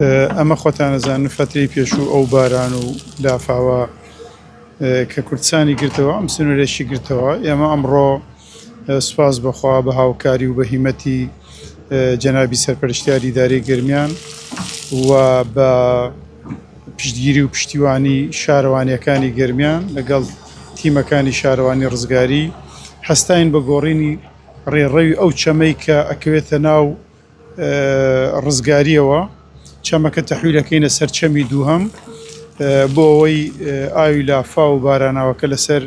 ئەمە خۆتان ئەزانن فەترەی پێشوو ئەو باران و لافاوە کە کوردستانی گرتەوە ئەم سنوورێکی گرتەوە ئێمە ئەمڕۆ سوپاس بەخوا بە هاوکاری و بە هیمەتی جەنابی سەرپەرشتیاری داری گرمیان و بە پشتگیری و پشتیوانی شارەوانیەکانی گرمیان لەگەڵ تیمەکانی شارەوانی ڕزگاری هەستین بە گۆڕینی ڕێڕەوی ئەو چەمەی کە ئەکەوێتە ناو ڕزگارییەوە چەمەکە تەحویلەکەینە سەر چەمی دووهەم بۆ ئەوەی ئاوی لافا و باراناوەکە لەسەر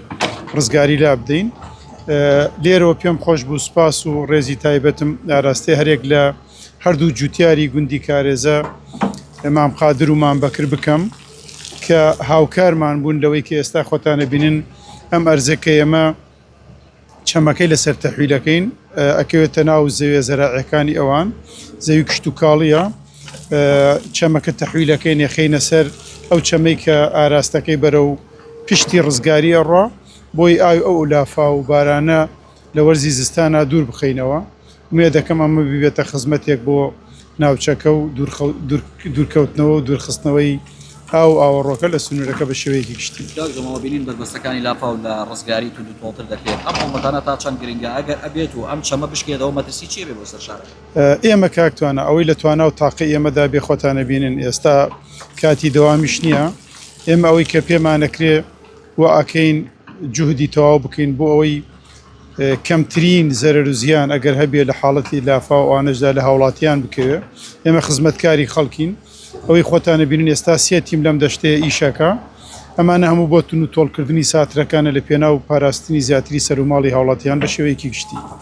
ڕزگاری لا بدەین لێرەوە پێم خۆش بوو سپاس و ڕێزی تایبەتم ئاراستێ هەرێک لە هەردوو جوتیاری گوندی کارێزە ئەمام قادر و مام بەکر بکەم کە هاوکارمان بوون لەوەی کە ئێستا خۆتانە بینن ئەم ئەرزەکە ئێمە چەمەکەی لەسەر تەحویلەکەین ئەکەوێتە ناو زەوێ زەراعیەکانی ئەوان زەوی کشتتوکاڵیە چەمەکە تەحویلەکەی نێخینە سەر ئەو چەمەی کە ئاراستەکەی بەرە و پشتی ڕزگاری ئەڕا بۆی ئاوی ئەو لافاو و بارانە لە وەرزی زستانە دوور بخینەوە نوێ دەکەم ئەمە ببێتە خزمەتێک بۆ ناوچەکە و دوورکەوتنەوە و دوورخستنەوەی ئاو و ئاوەڕۆکە لە سنوورەکە بە شێوەیەکی گشتی. کاک جەماڵ بینین بەربەستەکانی لافاو لە ڕزگاری توندوتۆڵتر دەکرێت، ئەم هەڵمەتانە تا چەند گرنگە، ئەگەر ئەبێت و ئەم چەمە بشکێتەوە مەترسی چی ئەبێت بۆ سەر شارەکە؟ ئێمە کاک توانا ئەوەی لە توانا و تاقی ئێمەدا بێ خۆتان ئەبینن ئێستا کاتی دەوامیش نییە، ئێمە ئەوەی کە پێمانەکرێ وا ئەکەین جوهدی تەواو بکەین بۆ ئەوەی کەمترین زەرەر و زیان ئەگەر هەبێ لە حاڵەتی لافاو ئەوانەشدا لە هاوڵاتیان بکەوێ ئێمە خزمەتکاری خەڵکین ئەوەی خۆتانە بینن ئێستا سێ تیم لەم دەشتەیە ئیشەکە ئەمانە هەموو بۆ تون و تۆڵکردنی ساترەکانە لە پێناو پاراستنی زیاتری سەروماڵی هاوڵاتیان بە شێوەیەکی گشتی.